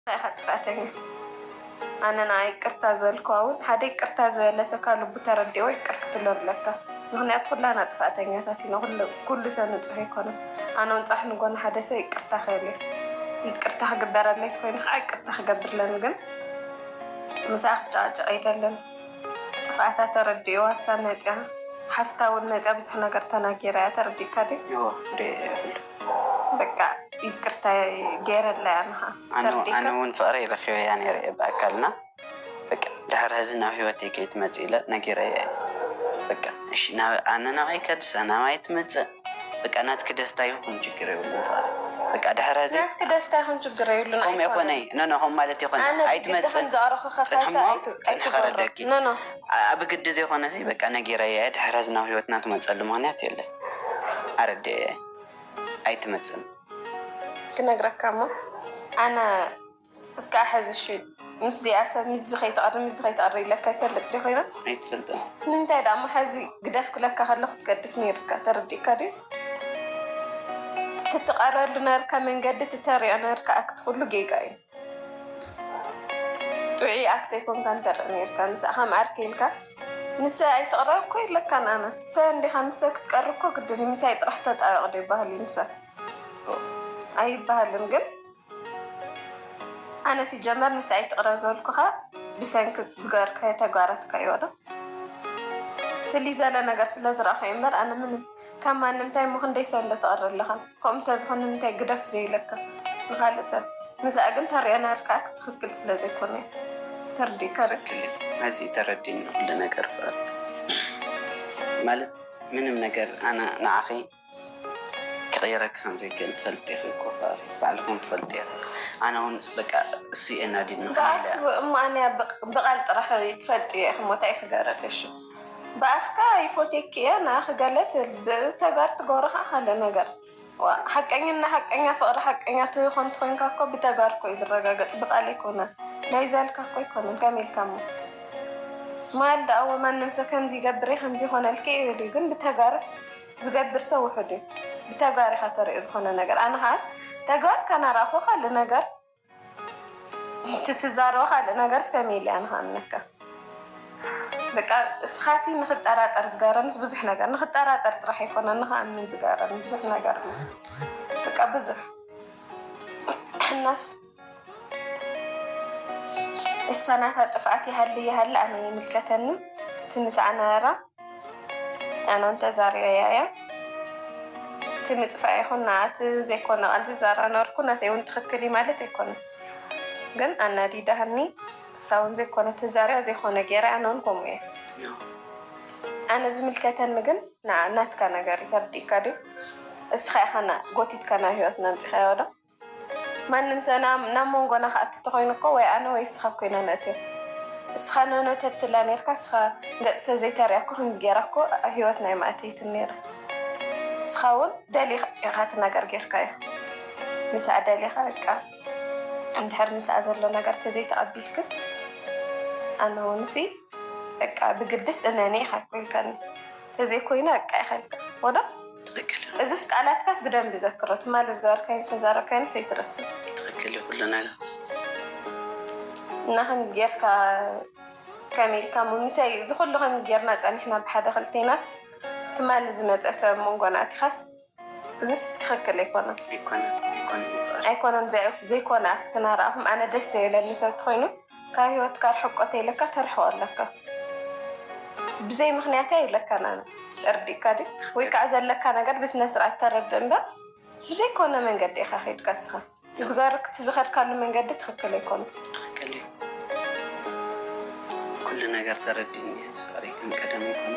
እንታይ ኢኻ ጥፍኣተኛ ኣነ ንኣ ይቅርታ ዝበልክዋ እውን ሓደ ይቅርታ ዝበለ ሰካ ልቡ ተረዲእዎ ይቅር ክትብሎ ኣለካ ምክንያቱ ኩላና ጥፍኣተኛታት ኢና ኩሉ ሰብ ንፁህ ኣይኮነን ኣነ እውን ፃሕ ንጎኒ ሓደ ሰብ ይቅርታ ክብል እየ ይቅርታ ክግበረለይ ትኮይኑ ከዓ ይቅርታ ክገብርለን ግን ምስኣ ክጨቃጨቅ ኣይደለን ጥፍኣታ ተረዲእዋ እሳ መፅያ ሓፍታ እውን መፅያ ብዙሕ ነገር ተናጊራ እያ ተረዲእካ ድዩ በቃ ይቅርታ ገይረላ እያ ንሃ ኣነ እውን ፍቅረይ ረኪበ እያ ነይረ እየ ብኣካልና በቃ ድሕር ሕዚ ናብ ሂወተይ ከይትመፅእ ኢለ ነጊረያ እየ በቃ እሺ ኣነ ናብይ ከድሰ ናብይ ትምፅእ በቃ ናትኪ ደስታ ይኹን ችግር የብሉን ፍቅረይ በቃ ድሕር ሕዚ ናትኪ ደስታ ይኹን ችግር የብሉን ከምኡ ይኮነ ኖኖ ከም ማለት ይኮነ ኣይትመፅን ፅንሕሞ ፅንሕ ከረደኪ ኖኖ ብግዲ ዘይኮነ በቃ ነጊረያ እየ ድሕር ሕዚ ናብ ሂወትና ትመፀሉ ምክንያት የለን ኣረድኤ ኣይትመጽን ክነግረካ እሞ ኣነ እስካዕ ሕዚ እሺ ምስዚኣ ሰብ ምስዚ ከይትቐሪ ምስዚ ከይትቐሪ ኢለካ ይፈልጥ ዲ ኮይና ኣይትፈልጥን ንምንታይ ደኣ እሞ ሕዚ ግደፍ ክለካ ከለኹ ትገድፍ ነይርካ ተረዲእካ ድዩ ትትቐረሉ ነርካ መንገዲ ትተሪኦ ነርካ ኣክትኩሉ ጌጋ እዩ ጥዑይ ኣክት ኣይኮንካን ተርኢ ነይርካ ምሳካ መዓር ክኢልካ ምሳይ ኣይትቅረብ እኮ የለካን ኣነ ምሳይ እንዲካ ምሳይ ክትቀርብ እኮ ግድን እዩ ምሳይ ጥራሕ ተጣበቅ ዶ ይበሃል እዩ ምሳይ ኣይበሃልን ግን ኣነ ሲጀመር ምሳይ ኣይትቅረብ ዘልኩካ ብሰንኪ ዝገበርካዮ ተግባራትካ እዩ ዶ ፍልይ ዘለ ነገር ስለዝረኣኩ እዩ እምበር ኣነ ምንም ካብ ማንም ታይ እሞ ክንደይ ሰሎ ተቅሪ ኣለኻ ከምኡ እንተዝኾን ንምንታይ ግደፍ ዘይብለካ ንኻልእ ሰብ ንዝኣ ግን ተርእዮ ናርካ ትኽክል ስለ ዘይኮነ እዩ ተርዲእካ ዶ። ትክክል እዩ ሐዚ እዩ ተረዲኡኒ ኩሉ ነገር ፍቅር ማለት ምንም ነገር ኣነ ንዓኺ ክቅይረኪ ከም ዘይክእል ትፈልጢ ኢኺ እኮ ፍቅር ባዕልኹም ትፈልጡ ኢኺ ኣነ እውን በቃ እሱ እዩ ኣናዲድኒ ከመይ ኢለ ብኣፍ እሞ ኣነ ብቃል ጥራሕ እዩ ትፈልጥዮ ኢኺ እሞ ታይ ክገረለይ ሽም ብኣፍካ ይፎትየኪ እየ ንኣኺ ገለ ትብል ብተግባር ትገብሮ ከኣ ካልእ ነገር ዋእ ሓቀኝና ሓቀኛ ፍቅሪ ሓቀኛ ትኮ እንተኮይንካ እኮ ብተግባር እኮ እዩ ዝረጋገጽ ብቃል ኣይኮነን ናይ ዘልካ እኮ ኣይኮነን ከመይ ኢልካ እሞ ማል ደኣዎ ማንም ሰብ ከምዚ ይገብር ከምዚ ይኮነልኪ ይብል እዩ ግን ብተግባርስ ዝገብር ሰብ ውሑድ እዩ ብተግባር ኢካ ተርእዮ ዝኮነ ነገር ኣነ ከዓስ ተግባር ካናራእኮ ካልእ ነገር እቲ ትዛረቦ ካልእ ነገርስ ከመይ ኢለ እየ ንክኣምነካ በቃ እስኻሲ ንክጠራጠር ዝገረንስ ብዙሕ ነገር ንክጠራጠር ጥራሕ ኣይኮነን ንክኣምን ዝገረን ብዙሕ ነገር እዩ በቃ ብዙሕ እናስ እሳ ናታ ጥፍኣት ይሃሊ ይሃሊ ኣነ ይምልከተኒ እቲ ምስኣ ነበራ ኣነውን ተዛሪበያ እያ እቲ ምፅፋእ ይኹን ናኣት ዘይኮነ ቃል ዝዛራ ነበርኩ ናተይ እውን ትክክል እዩ ማለት ኣይኮነ ግን ኣናዲዳሃኒ እሳውን ዘይኮነ ተዛሪያ ዘይኮነ ገይራ ኣነውን ከምኡ እየ ኣነ ዝምልከተኒ ግን ናትካ ነገር ተርዲእካ ድዩ እስኻ ኢኻ ጎቲትካ ናብ ሂወትና ምፅኻዮ ዶ ማንም ሰብ ናብ መንጎና ክኣቲ ተኾይኑ እኮ ወይ ኣነ ወይ እስኻ እኮ ኢና ነእትዮ እስኻ ኖኖ ተትላ ነርካ እስኻ ገጽ ተዘይተርእያ እኮ ከምዚ ገራ እኮ ሂወትና ኣይምኣተይትን ነይራ እስኻ ውን ደሊኻ ኢኻ እቲ ነገር ገርካዮ ምስኣ ደሊኻ በቃ እንድሕር ምስኣ ዘሎ ነገር ተዘይተቀቢልክስ ኣነ ውን ሲ በቃ ብግድስ እመኒ ኢኻ እኮ ኢልካኒ። ተዘይ ኮይኑ ኣቃ ይኸልከ ወዶ ትክክል እዚስ ቃላትካስ ብደንብ ዘክሮ ትማሊ ዝገበርካይን ዝተዛረብካይን ሰይትረስብ ትክክል እዩ ኩሉ ነገር እና ከምዚ ጌርካ ከመይ ኢልካ ሙሚሰይ እዚ ኩሉ ከምዚ ጌርና ጸኒሕና ብሓደ ክልቴናስ ትማሊ ዝመፀ ሰብ መንጎና ኣቲኻስ እዚስ ትክክል ኣይኮነን ኣይኮነን ዘይኮነ ኣክት ናርኣኹም ኣነ ደስ ዘይብለኒ ሰብ ተኮይኑ ካብ ሂወትካ ርሕቆ ተይለካ ተርሕቆ ኣለካ ብዘይ ምክንያት ኣይብለካን ኣነ እርዲእካ ድ ወይ ከዓ ዘለካ ነገር ብስነስርዓት ተረድእ እምበር ብዘይኮነ መንገዲ ኢካ ከይድካ ንስካ ትዝገርክ ትዝኸድካሉ መንገዲ ትኽክል ኣይኮነን። ትኽክል እዩ ኩሉ ነገር ተረዲእኒ እየ እዚ ፍቅሪ ከም ቀደም ኣይኮነን።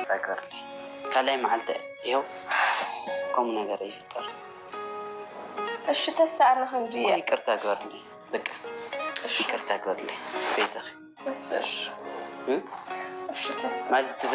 ታይ ገርሊ ካልኣይ መዓልቲ ይሀው ከምኡ ነገር ኣይፍጠር እሺ ተሳእነ ክንዲ እኮ ይቅርታ ገርሊ በቃ እሺ ይቅርታ ገርሊ በይዛኺ ተስር እ እሺ ተስ ማለት ትዘ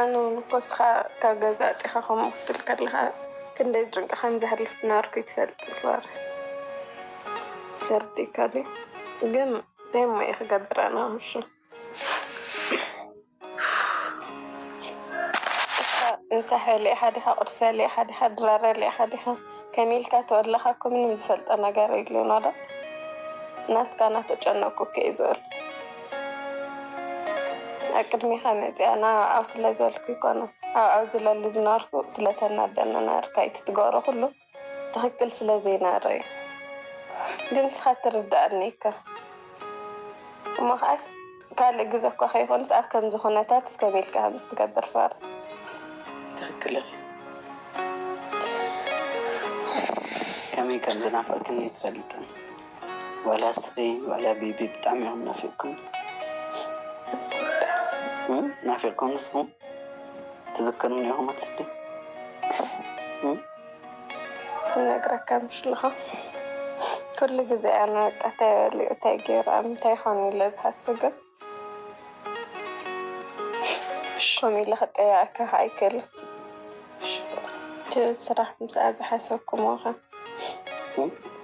ኣነ እውን እኮ እስኻ ካብ ገዛ ኣፂኻ ከምኡ ክትብል ከለኻ ክንደይ ጭንቂ ከም ዘሕልፍ ዝነበርኩ ይትፈልጥ ር ተርዲእካ ግን እንታይ ሞ ክገብር ኣነ ሕሹ እንሳሐ ሊኢካ ዲካ ቁርሰ ሊኢካ ዲካ ድራረ ሊኢካ ዲካ ከመይ ኢልካ ተወለካ እኮ ምንም ዝፈልጦ ነገር የሉን ወላ ናትካ ናተጨነኩ እኮ እየ ዝውዕል ኣብ ቅድሜካ መፂኣ ናባዓው ስለዝበልኩ ኣይኮነን ኣብዓው ዝለሉ ዝነበርኩ ስለተናደነ ነበርካ ኢቲ ትገብሮ ኩሉ ትክክል ስለ ዘይነረዩ ግን ንስካ ትርደኣኒ እካ እሞ ከዓስ ካልእ ግዘ እኳ ከይኮንስ ኣብ ከምዚ ኩነታት እስከመይ ኢልካ ከምዚ ትገብር ፋራ ትክክል ኢኺ ከመይ ከም ዝናፈቅክን ኣይትፈልጥን ዋላ እስኺ ዋላ ቢቢ ብጣዕሚ እዮም ናፊቅኩም ናፊቅኩም ንስኹም ትዝክሩን ኢኹም ማለት ድዩ ይነግረካ ምሽልኻ ኩሉ ግዜ ኣነ በቃ እንታይ በሊዑ እንታይ ገይሩ ኣብ ምንታይ ይኾን ኢለ ዝሓስብ ግን ሽም ኢለ ክጠየቀካ ከዓ ኣይክእልን እቲ ስራሕ ምስኣ ዝሓሰብኩምዎ ከ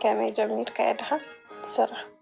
ከመይ ጀሚርካዮ ድካ እቲ ስራሕ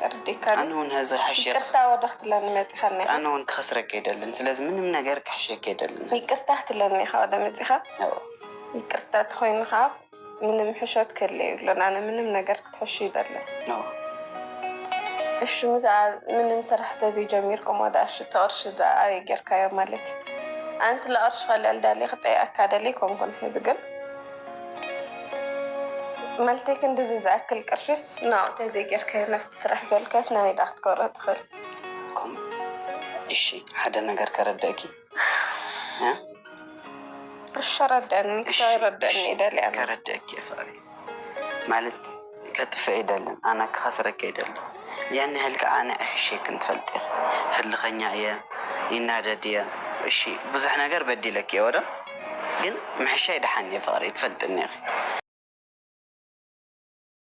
ተረዲእካኒ ኣነ ውን ሀዚ ሐሸ ይቅርታ ወደ ክትለኒ መፂካ እኒካ ኣነ ውን ክከስረኪ ኣይደልን ስለዚ ምንም ነገር ክሕሸኪ ኣይደልን ሀዚ። ይቅርታ ክትለኒ ኢካ ወደ መፂካ ኣዎ ይቅርታ ተኮይኑ ካዓ ምንም ሕሾት ክህሊ የብሉን ኣነ ምንም ነገር ክትሕሹ ኣይደልን ኣዎ እሺ ምዝኣ ምንም ስራሕ ተዘይ ጀሚርኩም ወደ ኣሽ እቲ ቅርሺ ዝኣ ኣበይ ገይርካዮ ማለት እዩ ኣን ስለ ቅርሺ ከለል ዳሌ ክጠይቀካ ደሌ ኣይኮንኩን ሀዚ ግን መልቲ ክንድዚ ዝኣክል ቅርሽስ ናብኡ ተዘይገርካዮ ናብቲ ስራሕ ዝበልካዮስ ናበይ ደኣ ክትገብሮ ትኽእል። ከምኡ እሺ ሓደ ነገር ከረድእኪ እሺ ኣረድእኒ ክሳብ ይረድእኒ ይደልያ እሞ። ከረድእኪ እየ ፍቅረይ ማለት ከጥፍእ ኣይደልን ኣነ ክከስረኪ ኣይደልን ያን ያህል ካኣ ንዒ ሕሽይ ክንትፈልጢ ኢኪ ህልከኛ እየ ይናደድ እየ እሺ ብዙሕ ነገር በዲለኪ እየ ወደ ግን ምሕሻይ ዳሓን እየ ፍቅረይ ትፈልጥኒ ኢኪ።